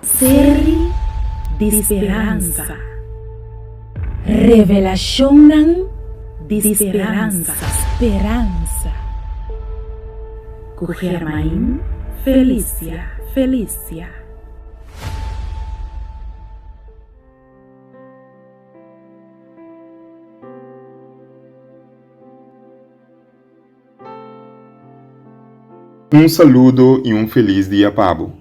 Seri di speransa. Revelashonnan di speransa. Speransa. Ku Germain Felicia Felicia. Un saludo y un feliz dia pa bo.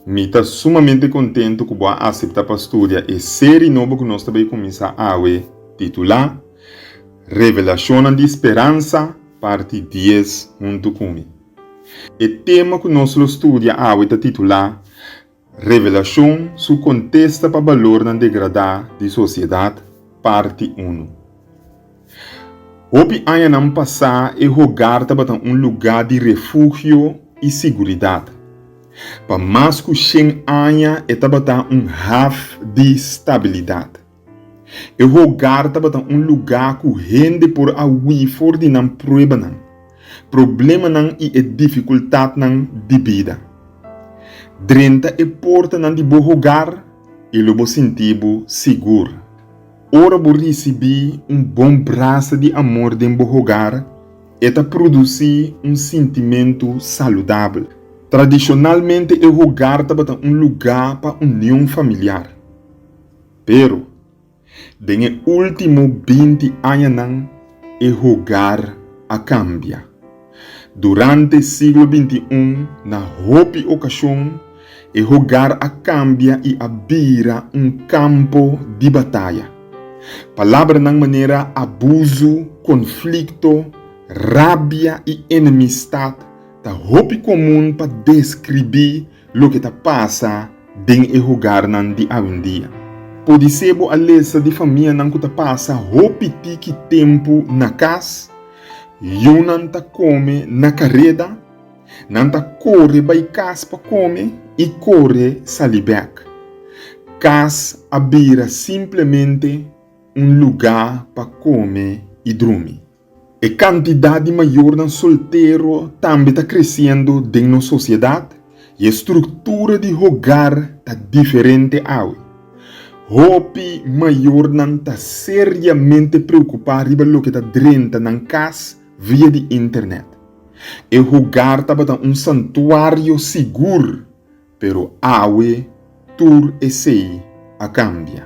Mi ta sumamente contento cu bo a acepta pa studia e serie nobo cu nos ta bay cuminsa awe titula Revelacionnan di Speransa, Parti Dies huntu cu mi. E tema cu nos lo studia awe ta titula Revelashon Su kontesta pa balornan degradá di sosiedat, Parti unu. Hopi añanan pasá e hogar tabata un lugá di refugio i siguridat. Pa mas ku shen aña e tabata un haf di stabilidat. E hogar tabata un lugá ku hende por a hui for di nan pruebanan, problemanan i e difikultatnan di bida. Drenta e portanan di bo hogar i lo bo sinti bo sigur. Ora bo risibí un bon brasa di amor den bo hogar, e ta produsí un sintimentu saludabel. Tradishonalmente e hogar tabata un lugá pa union familiar. Pero, den e último binti añanan e hogar a kambia. Durante siglo bintiún na hopi okashon e hogar a kambia i a bira un kampo di bataya. Palabranan manera abusu, konflikto, rabia i enemistat ta hopi komun pa deskribí Loke ta pasa den e hogarnan di awendia. Podisé bo a lesa di famianan ku ta pasa hopi tiki tempu na kas, yunan ta kome na kareda, nan ta kore bai kas pa kome i kore sali bèk. Kas a bira simplemente un lugá pa kome i drumi. E kantidat di mayornan soltero tambe ta kresiendo den nos sosiedat i e struktura di hogar ta diferente awe. Hopi mayornan ta seriamente preokupá riba loke ta drenta nan kas via di Internet. E hogar tabata un santuario sigur Pero awe tur esei a kambia.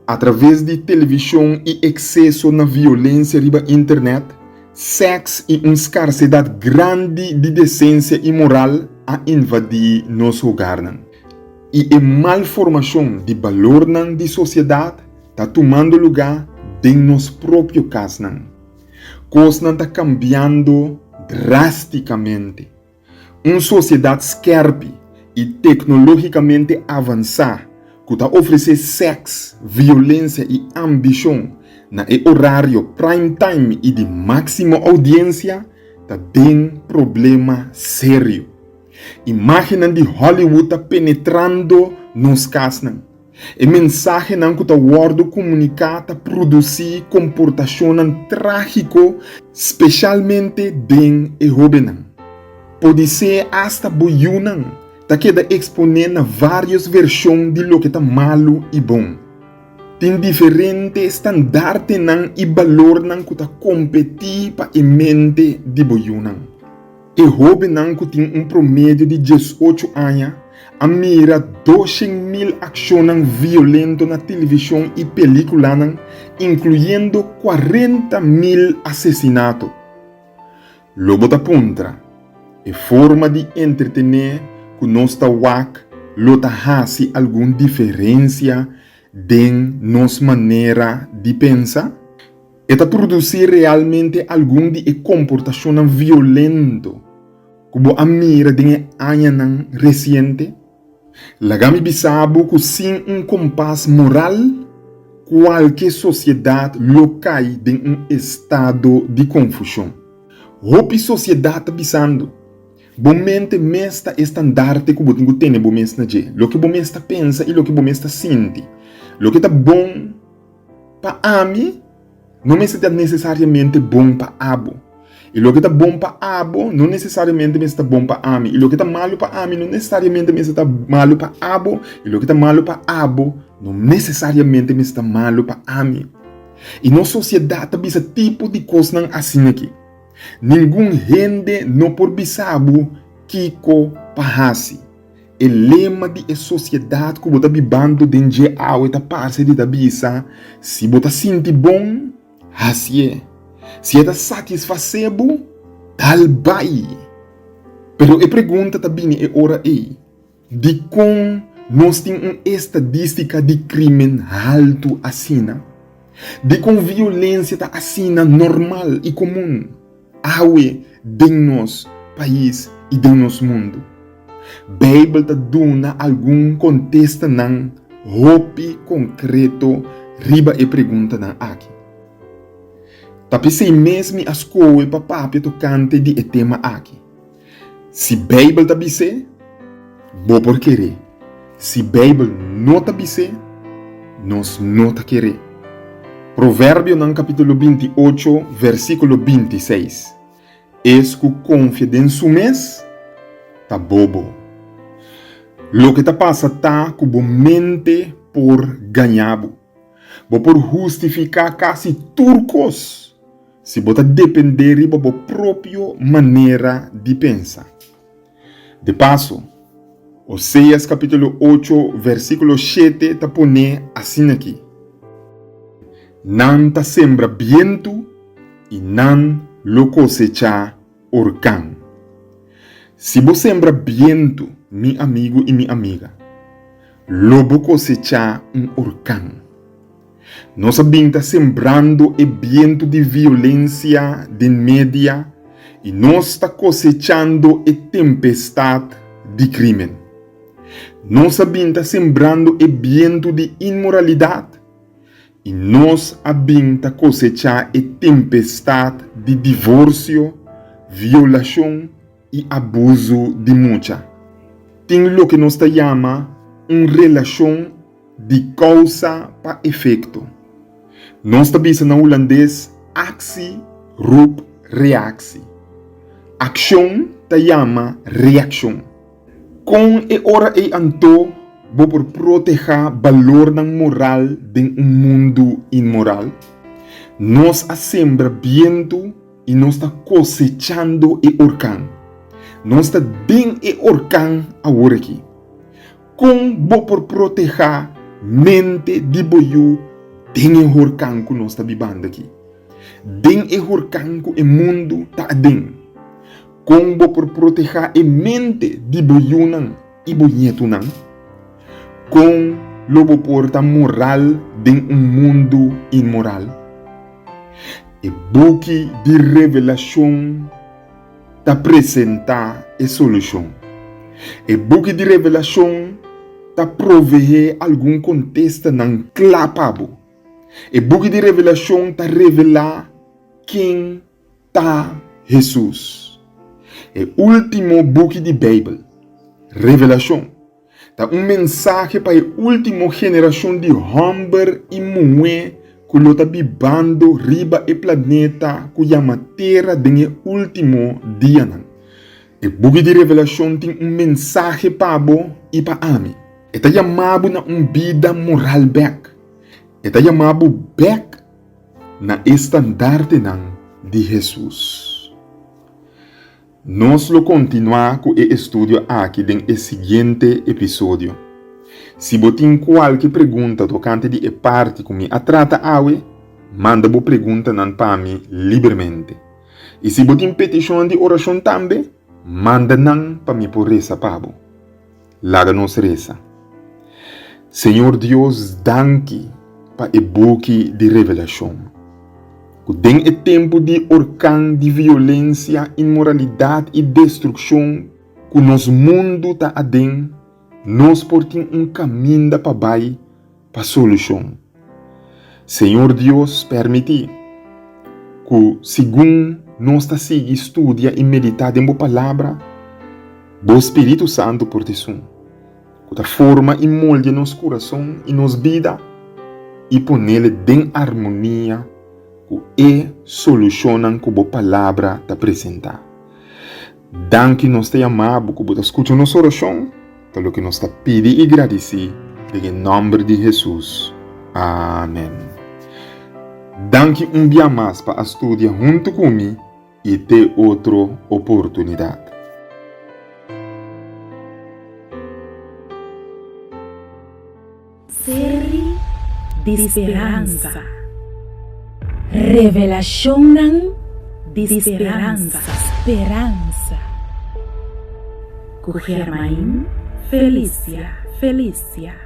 Atraves di televishon i ekseso na violensia riba internet, sèks i un skarsedat grandi di desensia i moral a invadí nos hogarnan. I e mal formashon di balornan di sosiedat ta tumando lugá den nos propio kasnan. Kosnan ta kambiando drástikamente. Un sosiedat skèrpi i teknologikamente avansá ku ta ofresé sèks, violensia i ambishon na e orario prime time i di máksimo oudiensia ta den problema serio. Imágennan di Hollywood ta penetrando nos kasnan. E mensahenan ku ta wòrdu komuniká ta produsí komportashonnan trágiko, speshalmente den e hóbennan. Podisé asta bo yunan ta keda eksponé na vários vershon di loke ta malu i bon. Tin diferente standartenan i balornan ku ta kompetí pa e mente di bo yunan. E hóbennan ku tin un promedio di dies ocho aña a mira doshen mil akshonnan violento na tilivishon i pelíkulanan, inkluyendo kuarenta mil asesinato. Lo bo ta puntra, E forma di entretené ku nos ta wak lo ta hasi algun diferensia den nos manera di pensa? E ta produsí realmente algun di e komportashonnan violento ku bo a mira den e añanan resiente? Laga mi bisa bo ku sin un kompas moral, kualke sosiedat lo kai den un estado di konfushon. Hopi sosiedat ta bisando, Bo mente mes ta e standarte ku bo tin ku tene bo mes na dje. Loke bo mes ta pensa i loke bo mes ta sinti, loke ta bon, Pa ami, no mester ta nesesariamente bon pa abo. I loke ta bon pa abo, no nesesariamente mester ta bon pa ami. I loke ta malu pa ami, no nesesariamente mester ta malu pa abo. I loke ta malu pa abo, no nesesariamente mester ta malu pa ami. I nos sosiedat ta bisa tipo di kosnan asina aki, Ningun hende no por bisa bo kiko pa hasi. E lema di e sosiedat ku bo ta bibando den dje awe ta parse di ta bisa, Si bo ta sinti bon, hasié. Si e ta satisfasé bo, dal bai. Pero e pregunta ta bini e ora ei, Dikon nos tin un estadístika di krímen haltu asina? Dikon violensia ta asina normal i komun? Awe den nos pais i den nos mundu. Beibel ta duna algun kontestanan hopi konkreto riba e preguntanan aki. Ta p'esei mes mi a skohe pa papia tokante di e tema aki. Si Beibel ta bis'é, bo por keré. Si Beibel no ta bis'é, nos no ta keré. Proverbionan kapítulo binti ocho, vèrsikulo binti seis, Es ku konfia den su mes ta bobo. Loke ta pasa ta ku bo mente por gaña bo. Bo por hustifiká kasi tur kos Si bo ta dependé riba bo propio manera di pensa. De paso, Oseas capítulo ocho, versículo shete ta poné asina aquí, Nan ta sembra bientu i nan lo cosechá Hurkan. Si bo sembra bientu, mi amigu i mi amiga, lo bo kosechá un hurkan. Nos a bin ta sembrando e bientu di violensia den media i nos ta kosechando e tempestat di krímen. Nos a bin ta sembrando e bientu di inmoralidat I nos a bin ta kosechá e tempestad di divorcio, violashon i abuzu di mucha. Tin loke nos ta yama un relashon di kousa pa efekto. Nos ta bisa na hulandes aksi roep reaksi. Akshon ta yama reakshon. Kon e ora ei anto bo por protehá balornan moral den un mundu inmoral? Nos a sembra bientu i nos ta kosechando e orkan. Nos ta den e orkan aworakí. Kon bo por protehá mente di bo yu den e horkan ku nos ta bibando akí, den e horkan ku e mundu ta aden? Kon bo por protehá e mente di bo yunan i bo ñetunan? Kon lo bo por ta moral den un mundu inmoral? E buki di Revelashon ta presentá e solushon. E buki di Revelashon ta proveé algun kontestanan kla pa bo. E buki di Revelashon ta revelá ken Ta Hesus. E último buki di Beibel, Revelashon, ta un mensahe pa e último generashon di hòmber i muhé ku lo ta bibando riba e planeta ku yama Tera den e último dianan. E buki di Revelashon tin un mensahe pa bo i pa ami. E ta yama bo na un bida moral bèk. E ta yama bo bèk na e standardenan di Hesus. Nos lo kontinuá ku e estudio aki den e siguiente episodio. Si bo tin kualke pregunta tokante di e parti ku mi a trata awe, manda bo preguntanan pa mi libremente. I si bo tin petishon di orashon tambe, manda nan pa mi por resa pa bo. Laga nos resa. Señor Dios, danki pa e buki di Revelacion, cu den e tempu di orcan di violencia, inmoralidad y destruccion cu nos mundu ta aden, nos por tin un caminda pa bai pa solushon. Señor Dios permití ku segun nos ta sigui studia i meditá den Bo Palabra, Bo Spiritu Santu por disun, ku ta forma i moldia nos kurason i nos bida i ponel den armonia ku e solushonnan ku Bo Palabra ta presentá. Danki nos ta yamabu ku bo ta skucha nos orashon, ta loke nos ta pidi i gradisí den e nòmber di Hesus. Amen. Danki un bia mas pa a studia huntu ku mi i te otro oportunidat. Seri di speransa. Revelashonnan di speransa. Speransa. Ku Germain Felicia Felicia.